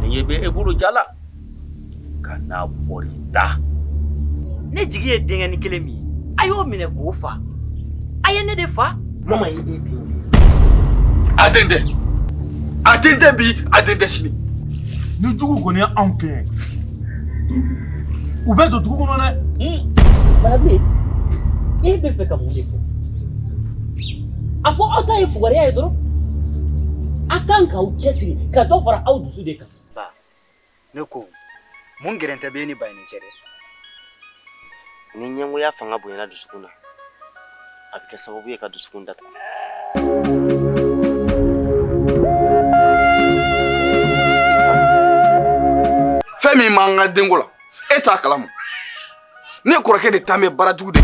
nin ye bɛ e bolo jala ka n'a bɔri da ne jigi ye denkɛni kelen min ye a y'o minɛ k'o fa a ye ne de fa mama ye e den a den tɛ a den tɛ bi a den tɛ sini ni juguw kɔni ye anw kɛ u bɛ don dugu kɔnɔ dɛ barabe e bɛ fɛ ka mun de fɔ a fɔ aw ta ye fugariya ye dɔrɔn a kan k'aw cɛsiri ka dɔ fara aw dusu de kan ba ne ko mun gɛrɛntɛ bɛ ni ba ni cɛ dɛ ni ɲɛngoya fanga bonyana dusukun na a bɛ kɛ sababu ye ka dusukun datugu fɛn min b'an ka denko la e t'a kalama ne kɔrɔkɛ de ta mɛ baarajugu de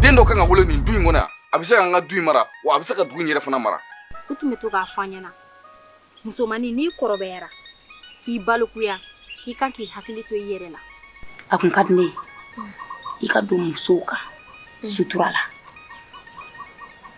den dɔ kan ka wolo nin du in kɔnɔ yan a bɛ se k'an ka du in mara wa a bɛ se ka dugu in yɛrɛ fana mara u tun bɛ to k'a fɔ an ɲɛna musomannin n'i kɔrɔbayara k'i balikuya k'i kan k'i hakili to i yɛrɛ la a kun ka di ne ye i ka don musow ka sutura la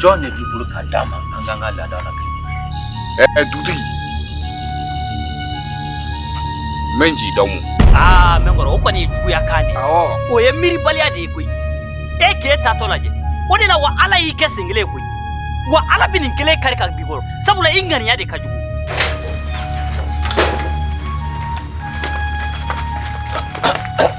jɔn de b'i bolo ka d'a ma an k'an ka laada la ɛɛ dugutigi n bɛ n jigi da mun aa mɛnkɔrɔ o kɔni ye juguya kan de ye o ye miiribaliya de ye koyi e k'e taatɔ lajɛ o de la wa ala y'i kɛ sen kelen ye koyi wa ala bɛ nin kelen kari ka b'i kɔrɔ sabula i ŋaniya de ka jugu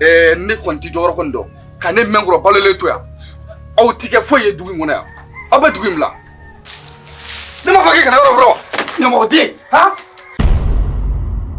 ɛɛ ne kɔni tɛ jɔyɔrɔ kɔni dɔn ka ne mɛnkɔrɔ balolen to yan aw ti kɛ foyi ye dugu in kɔnɔ yan aw bɛ dugu in bila ne m'a fɔ k'e kana yɔrɔ fɔlɔ ɲamɔgɔden han